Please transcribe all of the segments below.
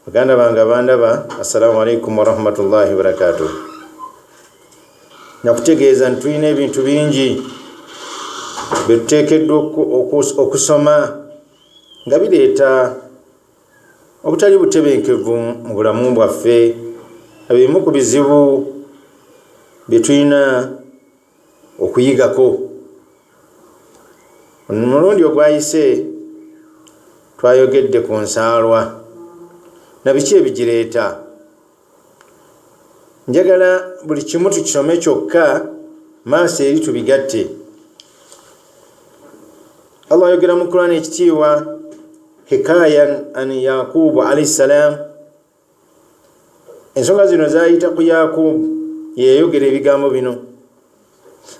Baganda bange abandaba, assalamu alaikum warahmatullahi wabarakatuh. Nakutegeeza nti tulina ebintu bingi bye tuteekeddwa okusoma nga bireeta obutali butebenkevu mu bulamu bwaffe, ebimu ku bizibu bye tulina. okuyigako omulundi ogwayise twayogedde ku nsaalwa nabiki ebigireeta njagala buli kimu tukisome kyokka maaso eri tubigatte allah ayogera mu kurani ekitiibwa hikayan an yakubu alaihi ssalaamu ensonga zino zayita ku yakubu yeyayogera ebigambo bino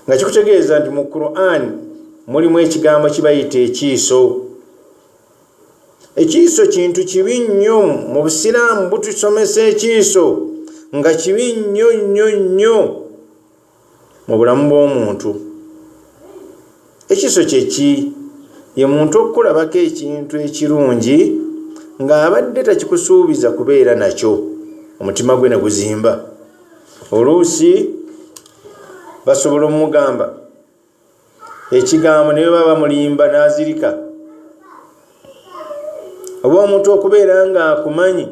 nga kikutegeeza nti mu quran mulimu ekigambo kibayita ekiiso ekiiso kintu kibi nnyo mu busiraamu butusomesa ekiiso nga kibi nnyo nnyo nnyo mu bulamu bw'omuntu ekiso kyeki ye muntu okukulabako ekintu ekirungi ng'abadde takikusuubiza kubeera nakyo omutima gwe ne guzimba oluusi basobola omugamba ekigambo ne bwe baba bamulimba n'azirika oba omuntu okubeera ng'akumanyi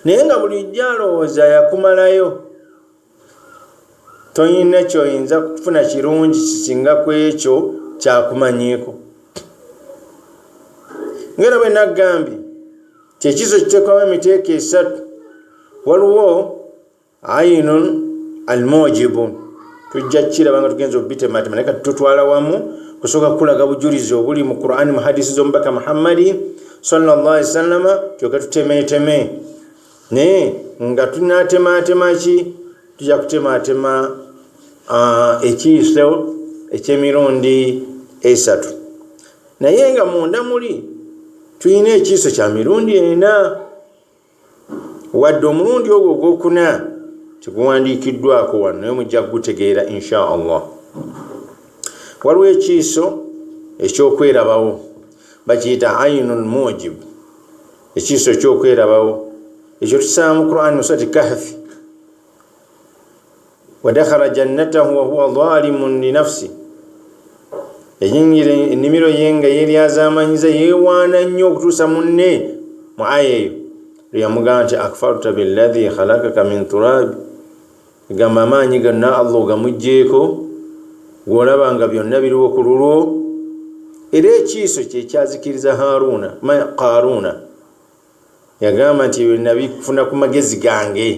naye nga bulijjo alowooza yakumalayo toyina kyoyinza kufuna kirungi kisinga ku ekyo kyakumanyiiko ngaera bwe naggambye kyekizo kiteekawo emiteeka esatu waliwo ayinun almujibu tujja kukiraba nga tugenza okubitematema naye kati tutwala wamu kusooka kukulaga bujulizi obuli mu qurani mu hadisi z'omubaka muhammadi sallallah ali sallama kyoka tutemeteme naye nga tunatematema ki tujja kutematema ekiiso ekyemirundi esatu naye nga munda muli tulina ekiiso kya mirundi ena wadde omulundi ogwo ogwokuna teguwandiikiddwako wano naye mujja kugutegeera insha allah waliwo ekiiso ekyokwerabawo bakiyita ainu lmujib ekiiso ekyokwerabawo ekyo tusanga mu qurani musati kahfi wadakhala jannatahu wahuwa zalimun linafsi yayingira ennimiro ye nga yeryazamanyiza yewaana nnyo okutuusa munne mu aya eyo lweyamugamba nti akfarta billahi khalakaka min turabi gamba amaanyi ganna allah ogamugjeeko gwolaba nga byonna biriwo ku lulwo era ekiiso kyekyazikiriza haruuna ma qaruuna Yagamba nti, Ebyo nnabifuna ku magezi gange.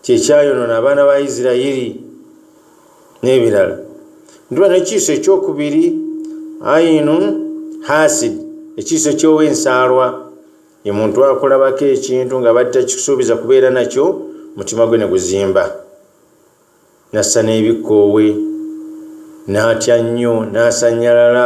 Kye kyayonoona abaana ba Isiraeri n'ebirala. Ntuba n'ekiiso ekyokubiri, ayinu hasid, ekiiso ky'ow'ensaalwa. Ye muntu akulabako ekintu ng'abadde takikusuubiza kubeera nakyo, omutima gwe ne guzimba. N'assa n'ebikkoowe, n'atya nnyo, n'asannyalala.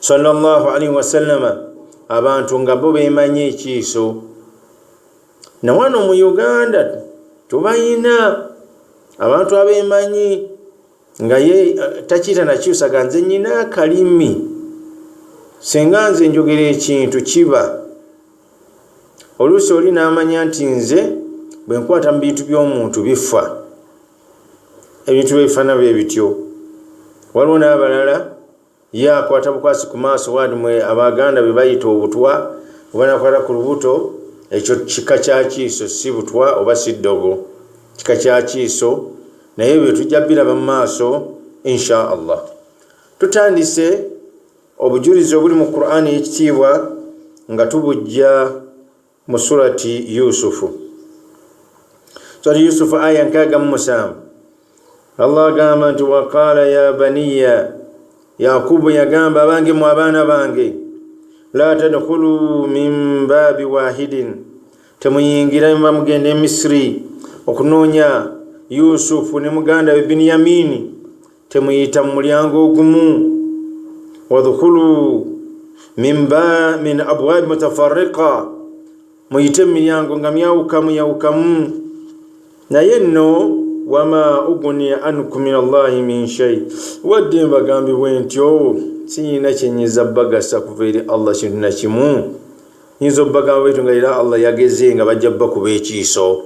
sallallahu alaihi wasallama abantu nga bo bemanyi ekiiso nawano mu uganda tubayina abantu abemanyi nga ye eh, takiita nakyusaga nze nyina akalimi singa nze njogera ekintu kiba oluusi oli namanya nti nze bwenkwata mu bintu by'omuntu bifa ebintu byebifaana bwe bityo waliwo n'abalala ye akwata bukwasi ku maaso wandi mwe abaganda be bayita obutwa oba nakwata ku lubuto ekyo kika kya kiiso si butwa oba si ddogo kika kya kiiso naye ebyo tujja biraba mu maaso insha allah tutandise obujulizi obuli mu qur'ani ekitiibwa nga tubujja mu surati yusufu surati yusufu aya nkaaga mu musanvu allah agamba nti waqaala ya baniya yakubu yagamba abange mu abaana bange la tadkhulu min baabi wahidin temuyingira mba mugenda emisiri okunoonya yusufu ne muganda we biniyamini temuyita mu mulyango ogumu wadhukulu mimba min abwabi mutafarika muyite mu miryango nga myawukamu yawukamu naye nno wama uguni anku min allahi min shai wadde mbagambibwe ntyo oh, siyina kyenyiza bagasa kuva eri allah kintu nakimu nyinza obagamba bwetu nga era allah yageze nga bajja bakuba ekiiso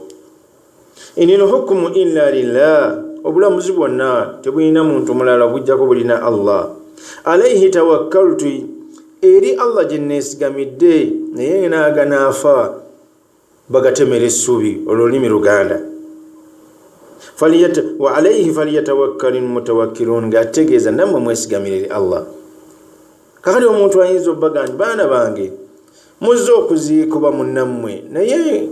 inil hukumu illa lillah obulamuzi bwonna tebulina muntu mulala obujjako bulina allah alaihi tawakkaltu eri allah gye neesigamidde naye naaga naafa bagatemera essuubi olwo olulimi luganda wa alaihi falyatawakkali mutawakkilun ng'ategeeza nammwe mwesigamire eri allah kakati omuntu ayinza obaga nti baana bange muzze okuziikuba munnammwe naye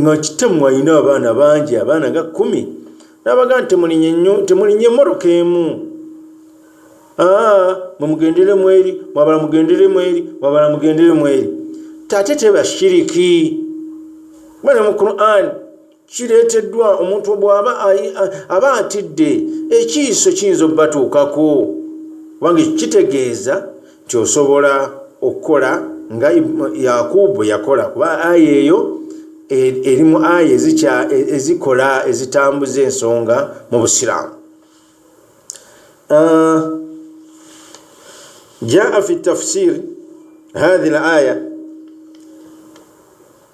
nga kitamu alina abaana bangi abaana nga kumi nabaga nti temulinye nnyo temulinye moroka emu ah, mwemugendere mweri mwabala mugendere mweri mwabala mugendere mweri tate tebashiriki bana mu quran kireeteddwa omuntu bw'aba aba atidde ekiiso kiyinza okubatuukako kubanga ekyo kitegeeza nti osobola okukola nga yakubu bwe yakola kuba aya eyo e, eri mu aya e, ezikola ezitambuza ensonga mu busiraamu ah, jaa fi tafsir hahi l aya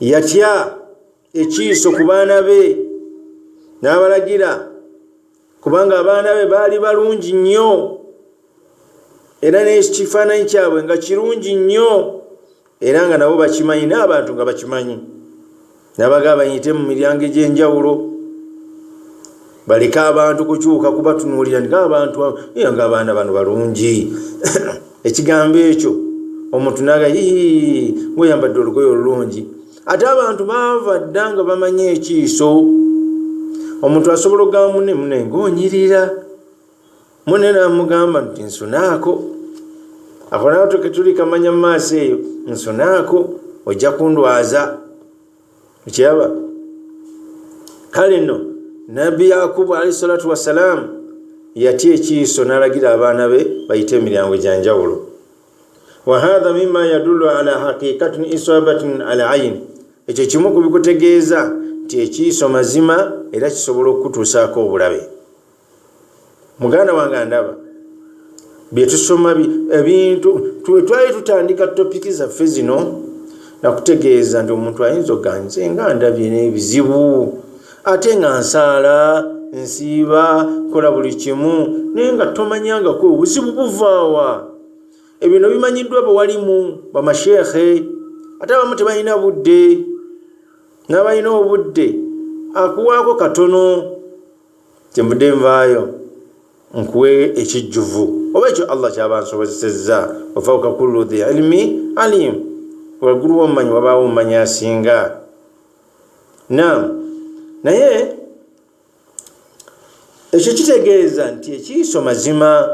yatya ekiiso ku baana be n'abalagira kubanga abaana be baali balungi nnyo era n'ekifaananyi kyabwe nga kirungi nnyo era nga nabo bakimanyi n'abantu nga bakimanyi nabaga bayite mu miryango egy'enjawulo baleke abantu kukyuka kubatunuulira nga abantu iyo nga abaana bano balungi ekigambo ekyo omuntu naga ii ngweyambadde olugoyo olulungi ate abantu baava dda nga bamanyi ekiiso omuntu asobola okugamba mune mune ngaonyirira mune namugamba nti nsunaako akonatuke tuli kamanya mu maaso eyo nsunaako ojja kundwaza okiraba kale nno nabbi yakubu alahi salatu wassalaamu yatya ekiiso n'alagira abaana be bayite emiryango egyanjawulo wahatha mima yadullu ala haqiqatin isabatin al ain ekyo kimu ku bikutegeeza nti ekiiso mazima era kisobola okukutuusaako obulabe muganda wange andaba byetusoma ebintu twali tutandika topiki zaffe zino nakutegeeza nti omuntu ayinza oganze nga ndabye n'ebizibu ate nga nsaala nsiiba kola buli kimu naye nga tomanyangako obuzibu buvaawa ebino bimanyiddwa bawalimu bamasheekhe ate abamu tebalina budde n'abalina obudde akuwaako katono kyenvudde nvaayo nkuwe ekijjuvu oba ekyo allah kyaba nsobozesezza wafauka kullu dhi ilmi alim waggulu womumanyi wabaawo omumanyi asinga nam naye ekyo kitegeeza nti ekiiso mazima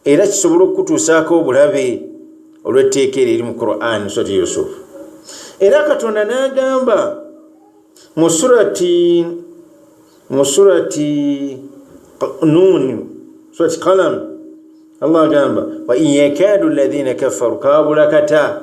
era kisobole okukutuusaako obulabe olw'etteeka eryo eri mu quran surati yusufu era katonda n'agamba mu surati mu surati nuuni surati kalamu allah agamba wain yakaadu alladhina kafaru kaabula kata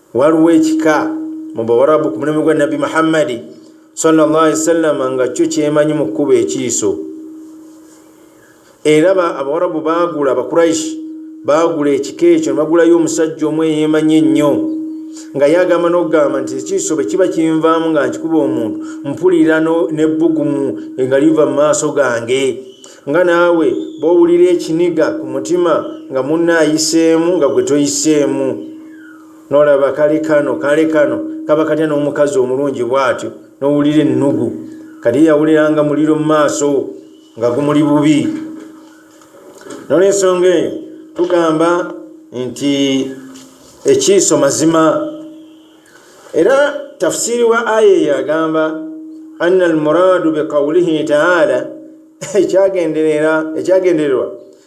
waliwo ekika mu bawarabu ku mulembe gwa nabbi muhammadi sawasalama nga kyo kyemanyi mu kkuba ekiiso era abawarabu baagula abakuraishi baagula ekika ekyo nebagulayo omusajja omu eyemanyi ennyo nga ye agamba n'okugamba nti ekiiso bwe kiba kinvaamu nga nkikuba omuntu mpulira n'ebbugumu nga liva mu maaso gange nga naawe bwowulira ekiniga ku mutima nga munna ayiseemu nga gwe toyiseemu nolaba kale kano kale kano kaba katya n'omukazi omulungi bwatyo nowulira ennugu kati yawuliranga muliro mu maaso nga gumuli bubi nolwensonga eyo tugamba nti ekiiso mazima era tafsiri wa aya eyo agamba anna almuraadu biqaulihi taala ekyagendererwa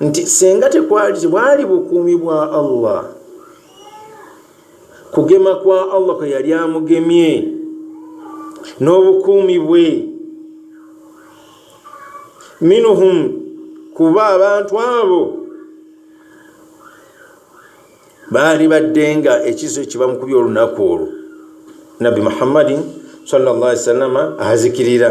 nti singa tekwali tebwali bukuumi bwa allah kugema kwa allah kwe yali amugemye n'obukuumi bwe minuhum kuba abantu abo baali badde nga ekiso ekibamukubya olunaku olwo nabbi muhammadin sallallahu alaihi wasallama azikirira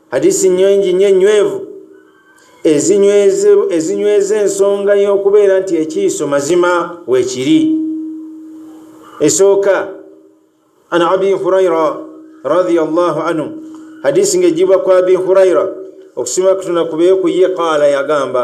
hadisi nyingi nyo enywevu ezinyweza ensonga y'okubeera nti ekiiso mazima wekiri esooka an abi huraira radiallahu anhu hadisi ng'ejibwa ku abi huraira okusiima kutuna kubeekuye qaala yagamba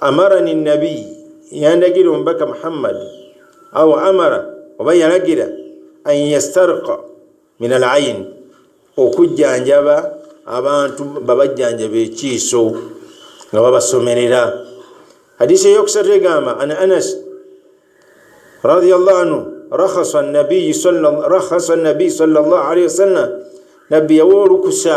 amarani nabii yandagira omubaka muhammadi awo amara oba yalagira an yastarka min al aini okujjanjaba abantu babajjanjaba ekiiso nga babasomerera hadisi eyokusatu egamba an anas radiallah anhu rakhasa nabiyi salllah alaihi wasallam nabbi yawa olukusa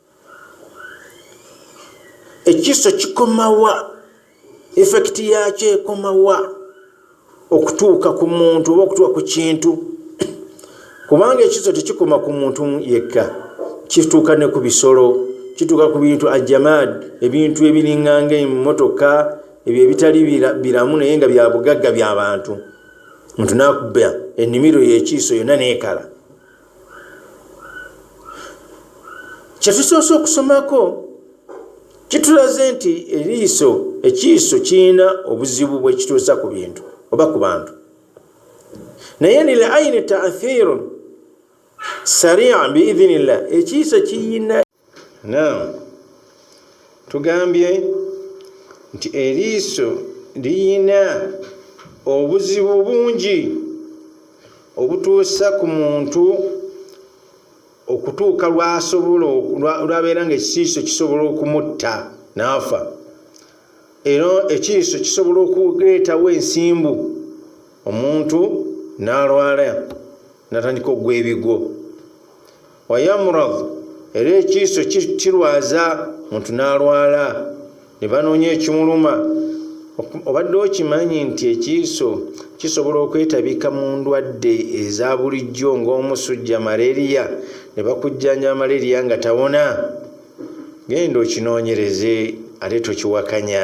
ekiso kikomawa efekiti yakyo ekomawa okutuuka ku muntu oba okutuuka ku kintu kubanga ekiso tekikoma ku muntu yekka kituuka ne ku bisolo kituuka ku bintu ajamad ebintu ebiringanga emotoka ebyo ebitali biramu naye nga bya bugagga bya bantu muntu nakubba ennimiro yekiiso yonna neekala kyetusoose okusomako kitulaze nti eriiso ekiiso kirina obuzibu bwekituusa ku bintu oba ku bantu naye lil aini taathiru sarian biidhinillah ekiiso kiyina Naam, tugambye nti eriiso liyina obuzibu bungi obutuusa ku muntu okutuuka lwasobola lwabeera nga ekiiso kisobola okumutta naafa era ekiiso kisobola okuleetawo ensimbu omuntu nalwala natandika okugwa ebigwo wayamurad era ekiiso kirwaza muntu n'alwala ne banoonya ekimuluma obadde okimanyi nti ekiiso kisobola okwetabika mu ndwadde eza bulijjo ng'omusujja malaria ne bakujjanja malaria nga tawona genda okinoonyereze ate tokiwakanya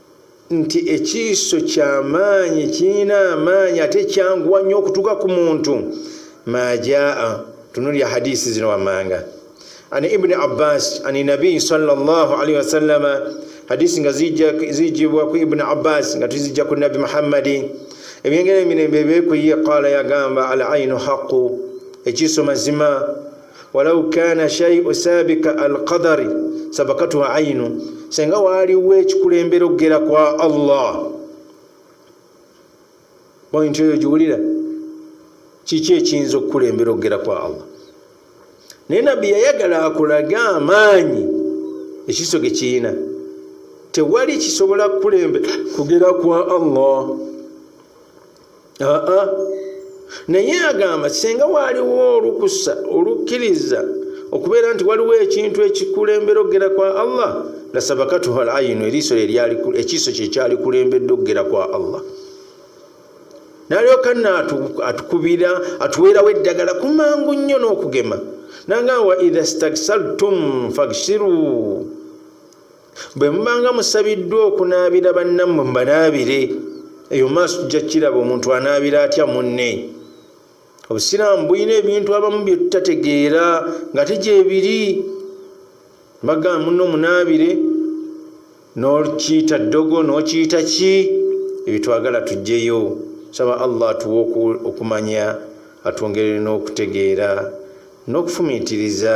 nti ekiiso kyamaanyi kirina amaanyi ate kyanguwa nnyo okutuuka ku muntu majaa tunulya hadisi zino wammanga an ibuni abbas an nabiyi salllahalihi wasallama hadisi nga zijibwa ku ibuni abbas nga tuzijja ku nabbi muhammadi ebyengera emirembe ebekuye qaala yagamba al ainu haqu ekiiso mazima walau kana shaiu sabika alqadari sabakatuhu ainu senga waaliwo ekikulembera okugera kwa allah pointi oyo giwulira kiki ekiyinza okukulembera okugera kwa allah naye nabbi yayagala akulage amaanyi ekiso ge kiyina tewali kisobola kukulembera kugera kwa allah aa naye agamba singa waaliwo olukusa olukkiriza okubeera nti waliwo ekintu ekikulembera okugera kwa allah la sabakatuha al ayinu eriiso ekiiso kyekyalikulembedde okugera kwa allah nalyoka na atukubira atuweerawo eddagala kumangu nnyo n'okugema nanga wa idha staksaltum faksiru bwe mubanga musabiddwa okunaabira bannammwe mbanaabire eyo maaso tujja kukiraba omuntu anaabira atya munne obusiraamu bulina ebintu abamu bye tutategeera nga tegyebiri bagamba munne omunaabire nokiyita ddogo nokiyita ki ebyo twagala tugyeyo saba allah atuwa okumanya atwongerere n'okutegeera n'okufumiitiriza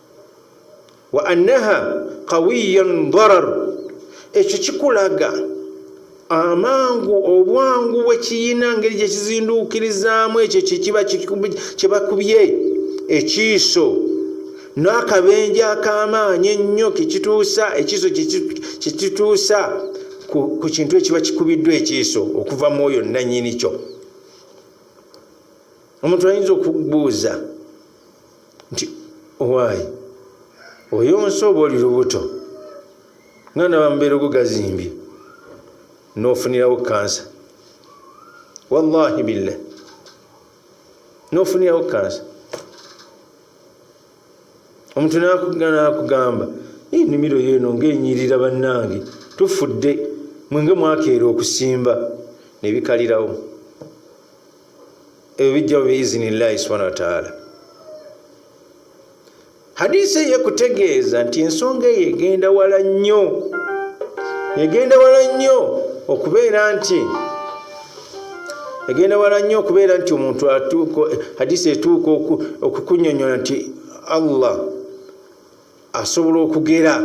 wa annaha qawiyan darar ekyo kikulaga amangu obwangu bwekiyina ngeri gyekizinduukirizaamu ekyo kyekiba kyebakubye ekiiso n'akabenje ak'amaanyi ennyo kekituusa ekiiso kyekituusa ku kintu ekiba kikubiddwa ekiiso okuva mu oyo nanyini kyo omuntu ayinza okubuuza nti owaayi oyo nsi oba oli lubuto nga ndaba mubeera ogugazimbye nofunirawo kansa wallahi billah nofunirawo kansa omuntu nakugamba enimiro yeno ngaenyirira bannange tufudde mwenge mwakeera okusimba nebikalirawo ebyo bijjawo biizinillahi subhana wataala hadisi eyo ekutegeeza nti ensonga eyo egenda wala nnyo egenda wala nnyo okubeera nti egenda wala nnyo okubeera nti omuntu atuuka hadisi etuuka okukunyonyola nti allah asobola okugera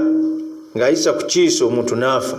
ng'ayisa ku kiiso omuntu n'afa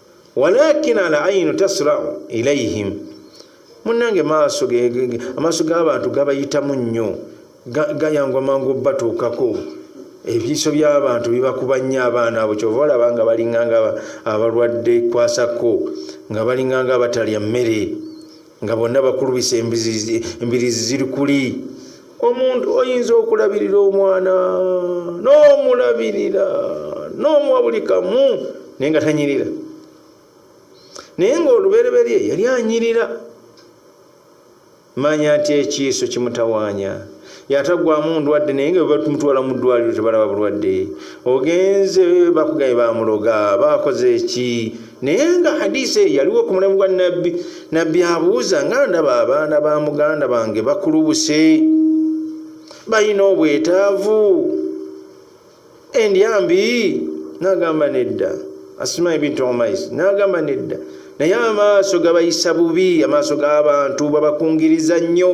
walakin al ainu tasrau ilaihim munange maaso amaaso g'abantu gabayitamu nnyo gayangwa mangu batuukako ebiiso by'abantu bibakuba nnyo abaana abo kyova olaba nga balinganga abalwadde kwasako nga balinganga abatalya mmere nga bonna bakulubisa embirizi ziri kuli omuntu oyinza okulabirira omwana n'omulabirira n'omuwa buli kamu naye nga tanyirira naye ng'olubereberye yali anyirira manya nti ekiiso kimutawanya yatagwamu ndwadde naye nga webatumutwala mu ddwaliro tebalaba bulwadde ogenze bakugaye bamuloga bakoze eki naye nga hadisi eyo yaliwo ku mulimu gwa nabbi nabbi abuuza nga ndaba abaana ba muganda bange bakulubuse balina obwetaavu endyambi nagamba nedda asima ebintu omais nagamba nedda naye amaaso gabayisa bubi amaaso g'abantu babakungiriza nnyo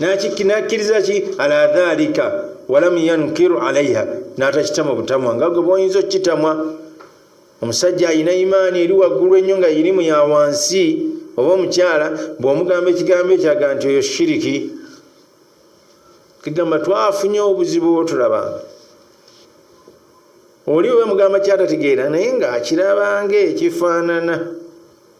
nakikkiriza ki ala dhalika walam yankiru alaiha natakitama butamwa nga gwe boyinza okukitamwa omusajja alina imaani eri waggulu ennyo nga irimu ya wansi oba omukyala bwomugamba ekigambo ekyaga nti oyo shiriki kigamba twafunye obuzibu otulaba oli oba mugamba kyatategeera naye ngaakirabanga ekifaanana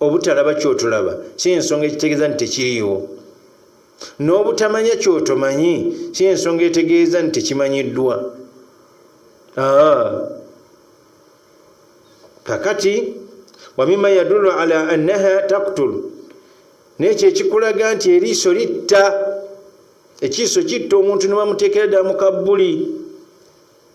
obutalaba kyotolaba si ensonga ekitegeeza nti tekiriiwo n'obutamanya kyotomanyi si ensonga etegeeza nti tekimanyiddwa kakati wamima yadulu ala annaha taktul nekyo ekikulaga nti eriiso litta ekiiso kitta omuntu nebamuteekera ddala mu kabbuli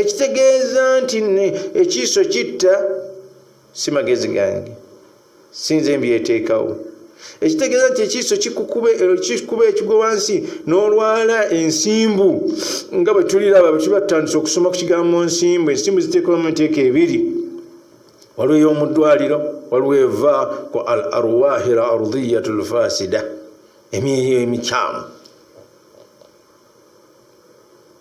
ekitegeeza nti ekiiso kitta si magezi gange sinze mbyeteekawo ekitegeeza nti ekiiso kikukuba eh, ekigwe wansi n'olwala ensimbu nga bwe tuliraba bwe tuba tutandise okusoma ku kigambo nsimbu ensimbu ziteekawo mu nteeka ebiri waliwo ey'omu ddwaliro waliwo eva ku al arwahi l ardiyatu lfasida emyoyo emikyamu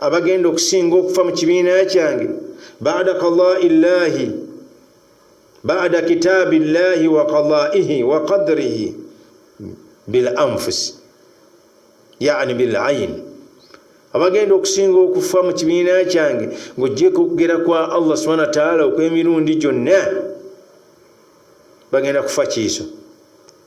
abagenda okusinga okufa mu kibiina kyange bada qadai llahi bada kitaabi llahi wa qadaihi wa qadrihi bil anfusi yani bil aini abagenda okusinga okufa mu kibiina kyange ng'ogyeko okugera kwa allah subhana wataala okw'emirundi gyonna bagenda kufa kiiso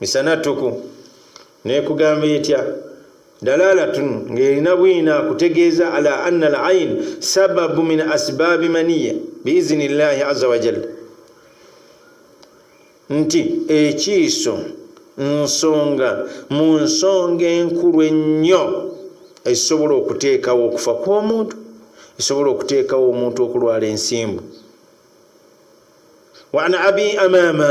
misana tuku nekugamba etya dalalatun ngaerina bwina kutegeeza ala anna al ain sababu min asbaabi maniya biizini llahi aza wajalla nti ekiiso nsonga mu nsonga enkulu ennyo ezisobola okuteekawo okufa kw'omuntu esobola okuteekawo omuntu okulwala ensimbu wan abi amama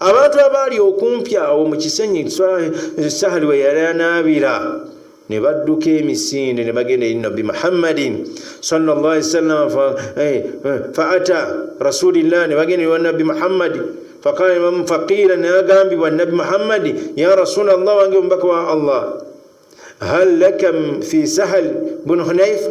abantu abaali okumpi awo mu kisenyi sahali we yali anaabira ne badduka emisinde ne bagenda eri nabbi muhammadin sawasalam faata eh, eh, rasulillah ne bagenda ewa nabbi muhammadi faqala imamu faqiira ne agambibwa nabbi muhammadi ya rasula llah wange omubaka wa allah hal laka fi sahal bunu hunaifa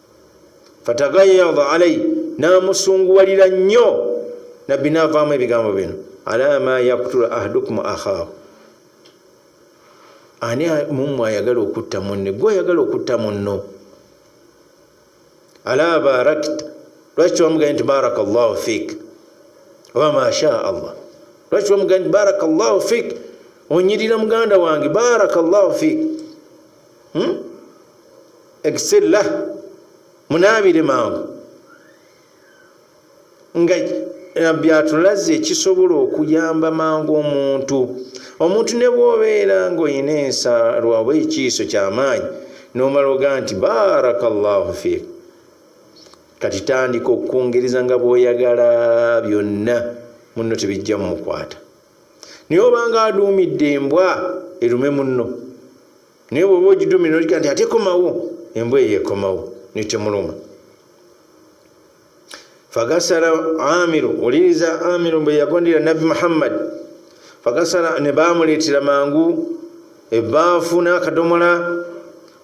fatagayada alai namusunguwalira nnyo nabbi navaamu ebigambo bino ala ma yaktula ahdukum akhaahu ani mumwe ayagala okutta munne gwe ayagala okutta munno ala barakta lwaki wamugaye nti baraka llahu fik oba masha allah lwaki wamugaye nti baraka llahu fik onyirira muganda wange baraka llahu fik hmm? egisirla munaabire mangu nga nabbi atulaze ekisobola okuyamba mangu omuntu omuntu ne bwobeera nga olina ensaalwa oba ekiiso kyamaanyi nomala oga nti baraka llahu fiik kati tandika okukungereza nga bwoyagala byonna munno tebijja mumukwata naye obanga aduumidde embwa erume munno naye bwoba ogidumira nolika nti ate komawo embwa eyo ekomawo netemuluma fagasala amiru uliriza amiru bwe yagondera nabbi muhammad fagasala ne bamuleetera mangu ebaafu n'akadomola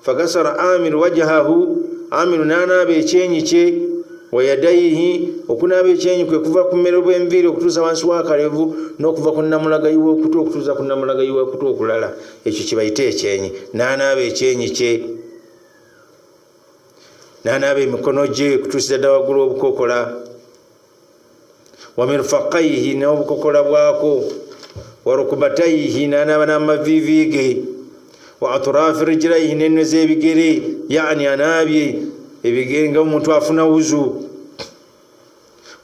fagasala amiru wajahahu amiru n'anaaba ekyenyi kye wayadaihi okunaaba ekyenyi kwe kuva ku mmere bw'enviiri okutuusa wansi w'akalevu n'okuva ku nnamulagayi w'okutu okutuusa ku nnamulagayi w'okutu okulala ekyo kyebayita ekyenyi nanaaba ekyenyi kye nanaaba emikono gye kutuusiza dda waggulu obukokola wamirfakaihi nobukokola bwako warukubataihi nanaaba namavivi ge wa atrafi rijlaihi nenwe zebigere yani anaabye ebigere nga omuntu afuna wuzu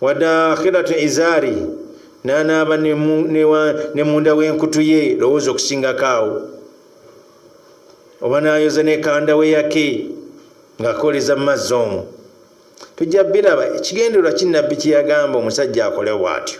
wadakhiratu izaari nanaaba ne munda w'enkutu ye lowooza okusingako awo oba nayoza nekanda we yake ng'akoleza mu mazzi omwo tujja biraba ekigendererwa kinnabbi kye yagamba omusajja akolewo bw'atyo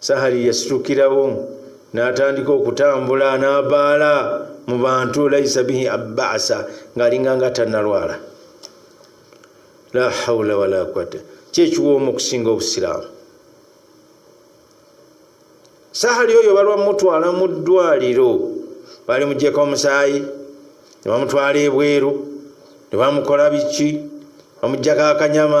sahali yasitukirawo n'atandika okutambula n'abaala mu bantu laisa bihi abasa ng'alinga nga tannalwala la haula wala quwata kyekiwoomu okusinga obusiraamu sahali oyo balwamutwala mu ddwaliro bali mugyeko omusaayi ne bamutwala ebweru ne bamukola biki bamujjako akanyama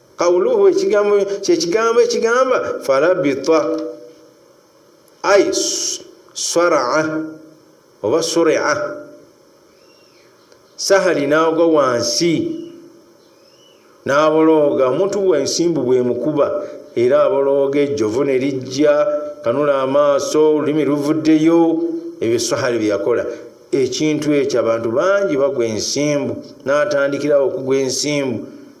Kauluhu ekigambo kyekigambo ekigamba farabita ai swaraa oba surea sahali naagwa wansi n'abolooga omuntu bwensimbu bwemukuba era abolooga ejjovu ne lijja kanula amaaso olulimi luvuddeyo ebyo sahali byeyakola ekintu ekyo abantu bangi bagwa ensimbu n'atandikirawo okugwa ensimbu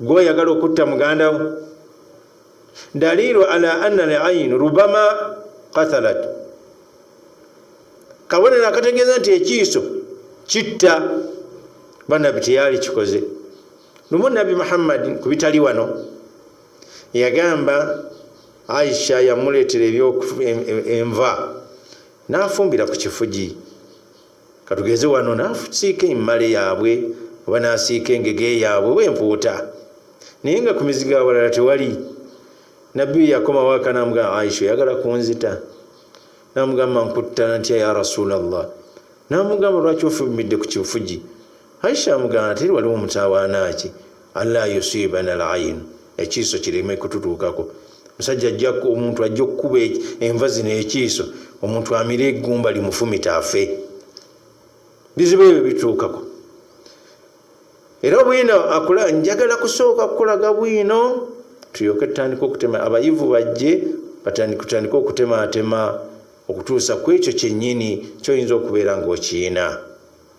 gwoyagala okutta mugandawo dalilu ala anna lain rubama katalat kabonero akategeeza nti ekiiso kitta banabi teyali kikoze lumu nabi muhammadi ku bitali wano yagamba aisha yamuleetera enva nafumbira ku kifugi katugeze wano nasiika emmale yaabwe oba nasiika engege yaabwe wempuuta naye nga ku mizigo awalala tewali nabbi yakomawo akanamuga aisha oyagala kunzita namugamba nkutta ntya ya rasulllah namugamba lwaki ofubimidde ku kifugi aisha amugamba teri waliwo mutawaana ki alla yusibana lainu ekiiso kireme kututuukako musajja ajja omuntu ajja okukuba enva zino ekiiso omuntu amire egumba limufumita afe bizibu ebyo bituukako era bwino akula njagala kusooka kukulaga bwino tulyoke tutandika okutema abayivu bajje batandikutandika okutematema okutuusa ku ekyo kyennyini kyoyinza okubeera ngaokiina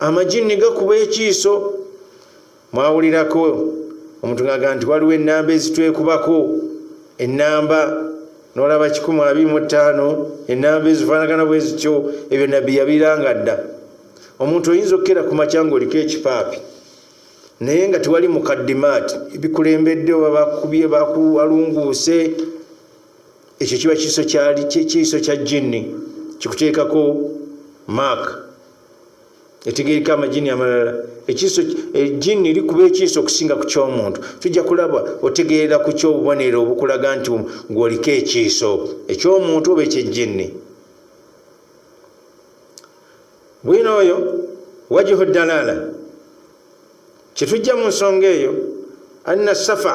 amajinni gakuba ekiiso mwawulirako omuntu ngaga nti waliwo enamba ezitwekubako enamba nolaba 125 enamba ezifanagana bwezityo ebyo nabbi yabiranga dda omuntu oyinza okukera ku makya nga oliko ekipaapi naye nga tewali mukaddimaati ebikulembedde oba bakubye bakuwalunguuse ekyo kiba kiiso kya jinni kikuteekako maaka etegereka amajini amalala ekiso ejini likuba ekiso okusinga ku kyomuntu tujja kulaba otegeera ku kyobubonero obukulaga nti ngwoliko ekiso ekyomuntu oba ekyejini bwino oyo wajihu dalala kyetujja mu nsonga eyo anna safa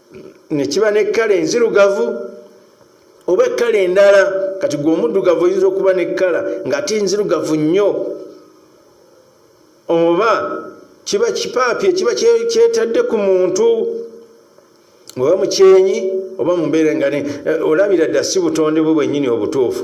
ne kiba n'ekkala enzirugavu oba ekkala endala kati gwe omuddugavu oyinza okuba n'ekkala ng'ate enzirugavu nnyo oba kiba kipaapi ekiba kyetadde ku muntu oba mukyenyi oba mu mbeera nga eh, olabira dda si butonde bwe bwennyini obutuufu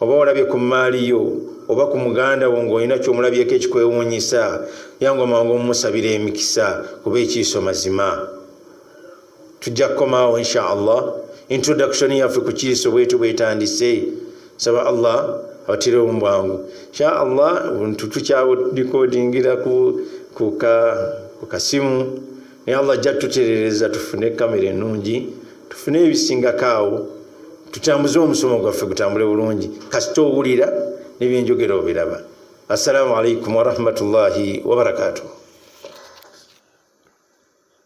oba olabye ku mmaali yo oba ku muganda wo ng'olina ky'omulabyeko ekikwewuunyisa yangu amangu omumusabira emikisa kuba ekiiso mazima tujja kukomaawo insha allah introduction yaffe ku kiiso bwetu bwetandise saba allah abatire omubwangu insha allah ntutukyawo dikodingira ku kasimu naye allah ajja tuterereza tufune kamera enungi tufune ebisingako awo tutambuze omusomo gwaffe gutambule bulungi kasita owulira nebyenjogera obiraba assalamu alaikum warahmatullahi wabarakatuh